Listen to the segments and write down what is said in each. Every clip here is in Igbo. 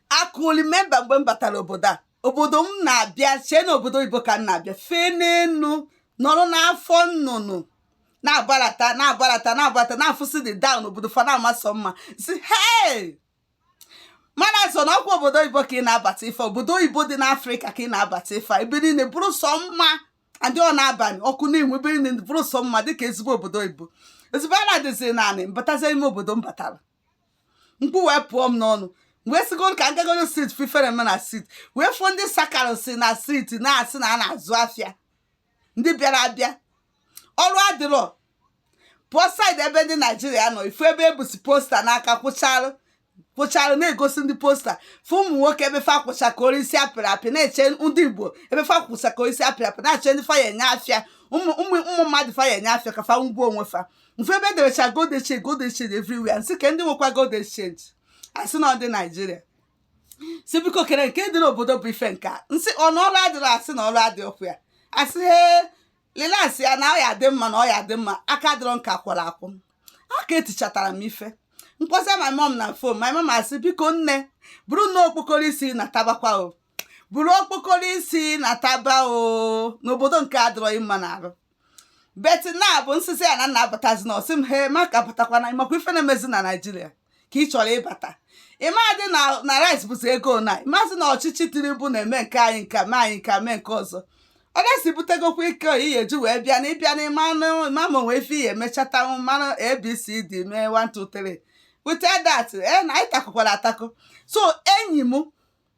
i could remember mgbe m batara obodo a obodo m na-abịa chee na obodo oyibo ka m na-abịa fee n'enu nọrọ n'afọ nnụnụ na-agbalata na-agbalata na-agbalata na-afụsị the down obodo fa na-ama sọ mma sị hei mana so na ọkwa obodo oyibo ka ị na-abata ife obodo oyibo dị n'afrịka ka ị na-abata ife ebe niile bụrụ sọ mma adị ọ n'abalị ọkụ na-enwu ebe niile bụrụ sọ mma dịka ezigbo obodo oyibo ezigbo a na-adịzi naanị m batazie ime obodo m batara mkpu wee pụọ m n'ọnụ wee sịgo ka m jegoro siti fụ ife mere na siti wee fụọ ndị sakarasị na siti na-asị na a na-azụ afịa ndị bịara abịa ọrụ adịrọ pụọ saịdị ebe ndị naijiria nọ ị fụ ebe e busi posta n'aka kwụcharụ kwụcharụ na-egosi ndị posta fụ ụmụ nwoke ebe fa kwụcha ka arụsị a pịrị apị na-eche ndị igbo ebe fa kwụcha ka arụsị a pịrị apị na-achọ ndị fa ya enye afịa ụmụ ụmụ ụmụ mmadụ fa ya enye afịa ka fa ngwa onwe fa m fụ ebe e derecha gold exchange gold exchange everywhere m sị ka ndị nwekwa gold exchange a sị na ọ ndị naijiria sị biko kedu nke dị n'obodo bụ ife nke a m sị ọ na ọrụ adịrọ a sị na ọrụ adịrọkwa ya a sị he relaxịa na ọ ya-adị mma na ọ ya-adị mma aka dịrọ nka kwụrụ akwụ aka etichatara m ife m kpọsa my mom na fon my mom asị biko nne buru nnọọ okpokoro isi natabakwa o buru okpokoro isi nataba o na obodo nke adịrọ gị mma n'arụ but na bụ m sịzị ya na m na-abatazi na ọ sị m he ma ka batakwana makwa ife na-emezi na naijiria ka ị chọrọ ịbata ị madị na na rice bụzi ego na ị mazị na ọchịchị tinubu na-eme nke anyị nka mee anyị nka mee nke ọzọ ọ ga-esi butegokwa ike oyi ya eji wee bịa na ị bịa na ịmanụ ma onwe ife ihe emechatanwụ mmanụ abcd mee 123 without that na anyị takụkwara atakụ so enyi m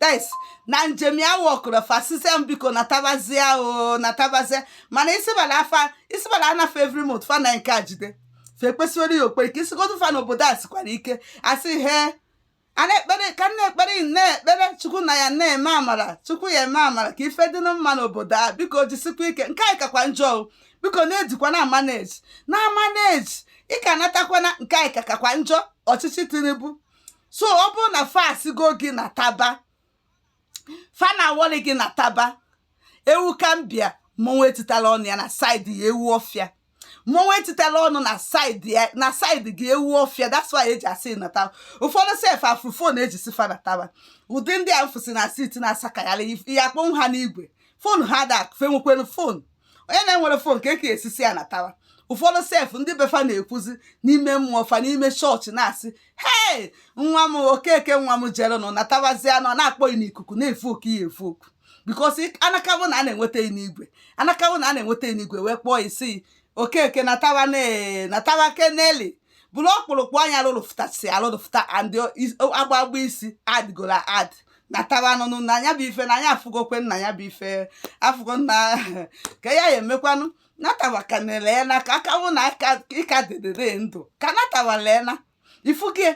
guys na njem ya wọkụrụ fa sịsịa m biko natabazia o natabazia mana isibala afa isibala anafe every month fa na nke a jide fa ekpesiwere ya ekpere ka ị sịgodu fa na obodo a sikwara ike a sị he a na-ekpere ka na-ekpere na-ekpere chukwu na ya na-eme amara chukwu ya eme amara ka ife dị mma n'obodo a biko jisikwa ike nke anyị kakwa njọ biko na-ejikwa na-amaneji na-amaneji ị ka natakwana nke anyị kakakwa njọ ọchịchị tinubu so ọ bụrụ na fa asịgo gị nataba fa na-aworry gị nataba ewu gambia mmọnwụ etitala ọnụ ya na saịdị ya ewu ọfịa mmọnwụ etitala ọnụ na saịdị ya na saịdị gị ewu ọfịa that's why e ji asị nataba ụfọdụ sef afụrọ fon e ji sị fa nataba ụdị ndị a m fụsị na siti na-asakagharị ya akpọnwụ ha n'igwe fon ha da akụfe nwekwere fon onye na-enwere fon ka eke esisi ya natawa ụfọdụ sef ndị befa na-ekwuzi n'ime mmụọ fa n'ime chọọchị na-asị hei nwa m Okeke nwa m jere nọ natawazie a nọ na-akpọ ya n'ikuku na-evoku ya evoku because anakabụ na a na-enweta ya n'igwe anakabụ na a na-enweta ya n'igwe wee kpọọ ya sị Okeke natawa natawa keneli bụrụ ọkpụrụkpụ anya lụrụfụtasị alụrụfụta and agbagba isi adịgoro ad natawa nụnụ na anya bụ ife na anya afụgokwe nna ya bụ ife afụgo nna ka ya ya emekwanụ natawa ka na-ele na ka a kawụ na ị ka dịdịrị ndụ ka natawa lee na ifu gị e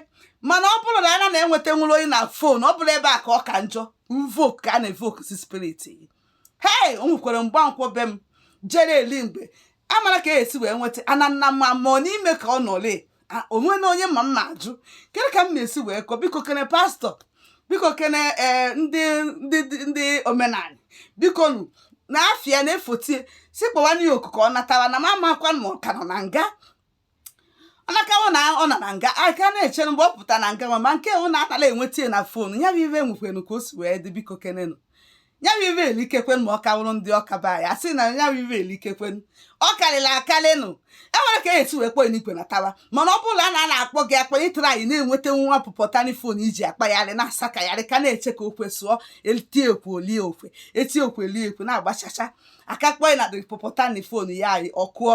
mana ọ bụrụ na ana na-enweta nwere onye na fon ọ bụrụ ebe a ka ọ ka njọ mvok ka a na-evokusi spirit hei o nwekwara Mgbankwọ be m jere eli mgbe amara ka esi wee nweta ana nna m amụọ n'ime ka ọ nọle onwe na onye ma mma ajụ kedu ka m na-esi wee kọ biko kene pastọ biko kene ee ndị ndị ndị omenala biko nụ na afịa na-efotie si kpọwanụ ya oku ka ọ natawa na m amakwa ma ọ ka nọ na nga ọ nakawụ na ọ nọ na nga a ka na-echere mgbe ọ pụta na nga ma nke ọ na-atala enweta ya na fon ya bụ ive enwekwenu ka o si wee dị biko kenenu ya bụ ive elikekwen ma ọ kawụrụ ndị ọka be anyị asị na ya bụ ive elikekwen ọ karịrị akarịnụ e nwere ka esi wee kpọọ ya n'igwe natawa mana ọ bụrụ na a na-akpọ gị akpọ ịtara anyị na-enweta nwa pụpọtani fon iji akpagharị na-asakagharị ka na-eche ka okwe sụọ etie okwe olie okwe etie okwe elie okwe na-agbachacha aka kpọọ ya na dị pụpọtani fon ya anyị ọkụọ